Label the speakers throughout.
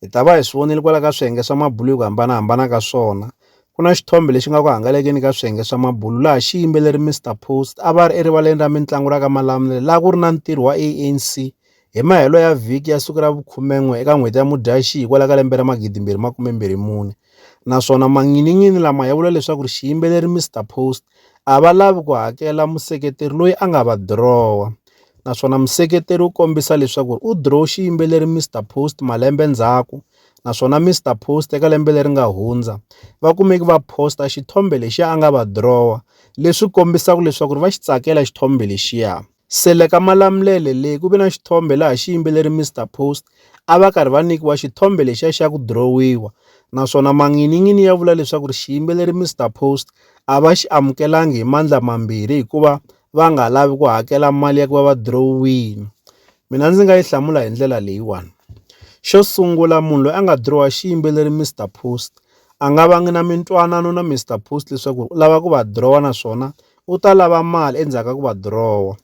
Speaker 1: hi ta va hi swi vonile kwala ka swiyenge swa mabulu hi ku hambanahambana ka swona ku na xithombe lexi nga ku hangalekeni ka swiyenge swa mabulu laha xiyimbeleri mr post a va ri erivaleni ra mitlangu ra ka malamulele laha ku ri na ntirho wa anc hi mahelo ya vhiki ya siku ra vukhumen'we eka n'hweti ya mudyaxihi kwala ka lembe ra magidimbirhi makumembirhi mune naswona manginin'ini lama ya vula leswaku ri xiyimbeleri mr post a va lavi ku hakela museketeri loyi a nga va dirowa naswona museketeri u kombisa leswaku u dirowe xiyimbeleri Mister Post malembe ndzhaku naswona Mister Post eka lembe leri nga hundza va kumeki va posta xithombe lexi a nga va dirowa leswi kombisaka leswaku va xi tsakela xithombe lexiya Sele ka Malamulele leyi ku ve na xithombe laha xiyimbeleri Mister Post a va karhi va nyikiwa xithombe lexiya xa ku dirowiwa naswona manginin'ini ya vula leswaku ri xiyimbeleri Mister Post a va xi amukelanga hi mandla mambirhi hikuva va nga lavi ku hakela mali ya ku va va dirowiwile mina ndzi nga yi hlamula hi ndlela leyiwani xo sungula munhu loyi a nga dirowa xiyimbeleri Mister Post a nga vangi na mintwanano na Mister Post leswaku u lava ku va dirowa naswona u ta lava mali endzhaku ka ku va dirowa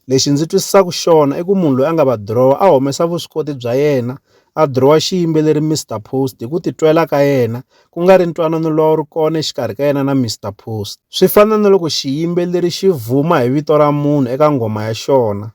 Speaker 1: lexi ndzi twisisaka xona i ku munhu loyi a nga va dirowa a humesa vuswikoti bya yena a dirowa xiyimbeleri Mister Post hi ku titwela ka yena ku nga ri ntwanano lowu ri kona exikarhi ka yena na Mister Post swi fana na loko xiyimbeleri xi vuma hi vito ra munhu eka nghoma ya xona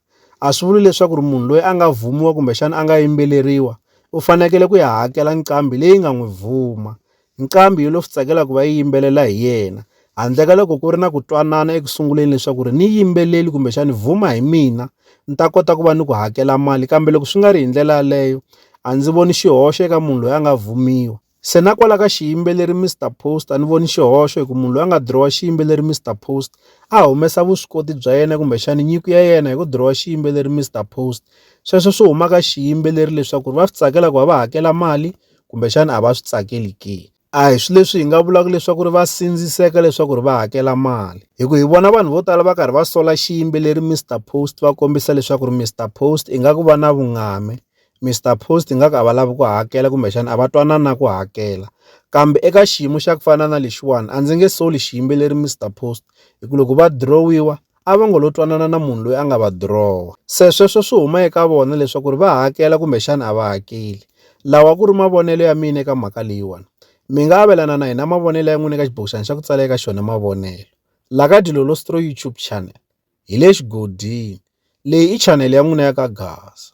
Speaker 1: a swi vuli leswaku ri munhu loyi a nga vhumiwa kumbexana a nga yimbeleriwa u fanekele ku ya hakela nqambi leyi nga n'wi vuma Nqambi yo lo swi tsakela ku va yi yimbelela hi yena, handle ka loko ku ri na ku twanana eku sunguleni leswaku ri ni yimbeleli kumbexani vuma hi mina ni ta kota ku va ni ku hakela mali kambe loko swi nga ri hi ndlela yaleyo a ndzi voni xihoxo eka munhu loyi a nga vhumiwa. Se na kwala ka xiyimbeleri Mister Post a ni voni xihoxo hi ku munhu loyi a nga dirowa xiyimbeleri Mister Post a humesa vuswikoti bya yena kumbexani nyiko ya yena hi ku dirowa xiyimbeleri Mister Post sweswo swi huma ka xiyimbeleri leswaku ri va swi tsakela ku va va hakela mali kumbexana a va swi tsakeli ke a hi swi leswi hi nga vulaka leswaku ri va sindziseka leswaku ri va hakela mali hi ku hi vona vanhu vo tala va karhi va sola xiyimbeleri Mr Post va kombisa leswaku ri Mr Post i nga ku va na vungame Mr Post i nga ku a va lavi ku hakela kumbexana a va twanana ku hakela kambe eka xiyimo xa ku fana na lexiwani a ndzi nge soli xiyimbeleri Mr Post hi ku loko va dirowiwa a va ngo lo twanana na munhu loyi a nga va dirowa. Se sweswo swi huma eka vona leswaku ri va hakela kumbexana a va hakeli. Lawa a ku ri mavonelo ya mina eka mhaka leyiwani. Mi nga avelana na hina mavonelo ya n'wina eka xibokixana xa ku tsala eka xona mavonelo la ka Dilolostro YouTube Channel. Hi le xigodini. Leyi i chanele ya n'wina ya ka Gaza.